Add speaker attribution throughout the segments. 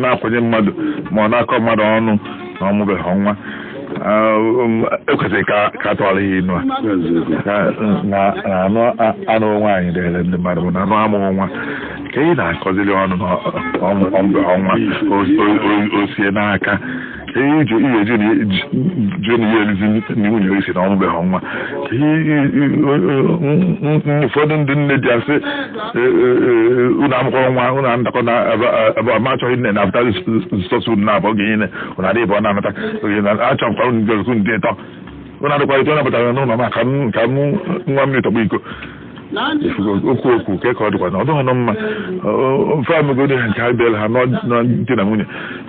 Speaker 1: na-akwanye mmadụ ma ọ na-akọ mmadụ ọnụ na ọ mụbeghị nwa ekwesịrị ka a tụọrọ ya inu a na anụ anụ nwaanyị dịrị ndị mmadụ mana amụ amụ nwa ka ị na-akọziri ọnụ na ọ mụbeghị nwa o sie n'aka ihe iji ihe eji jụọ na ihe erizi nni nwunye i si na ọ mụbeghị nwa ụfọdụ ndị nne di asị unu amụkọrọ nwa unu ndakọ na ebe ọma achọghị nne na abụta sọsọ unu abụọ gị niile unu adịghị bụ ọ na-anata achọghịkwa unu ndị ọzọ ndị ịtọ unu adịkwa ịtọ napụtara n'ụlọ m ka m ṅụọ mmiri tọgbọ iko okwu okwu nke ka ọ dịkwa na ọ dịghị nọ mma ofe amegodi ha nke ha bịara ha na di na nwunye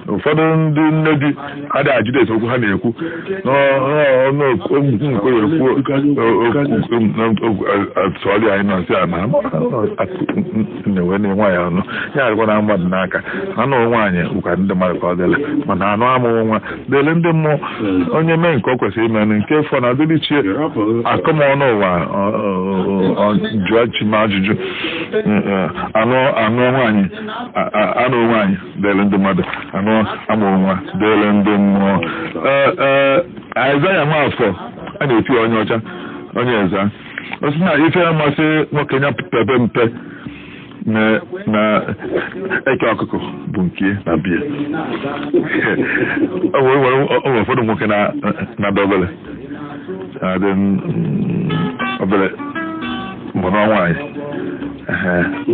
Speaker 1: ụfọdụ ndị nne di adịghị ajụdị ese okwu ha na-ekwu n'ọnụ okwu nke ya ekwu atụọlị anyị nọ nsị a na na-enwe na nwaanyị ọnụ ya adịkwa na mmadụ n'aka na anụ nwaanyị bụkwa ndị mmadụ ka ọ dịlị mana amụ amụ nwa dịrị ndị mmụọ onye mee nke o kwesịrị ime na nke fọ na dịrị chi ya a kọọ m ọnụ nwa ọ- ọ- ọ- ọ jụọ chi m ajụjụ anụ anụ nwaanyị a- a- anụ nwaanyị dịrị ndị mmadụ amụ amụ nwa dịrị ndị mmụọ Ee, ee, Aịzaya Nwafọ a na-eti ya onye ọcha onye eza ọ sị na ife ya masị nwoke ya pepe mpe na eke ọkụkọ bụ nke ya na be ya o nwere ụfọdụ nwoke na-adị obere na-adị obere ma ọ nụọ nwaanyị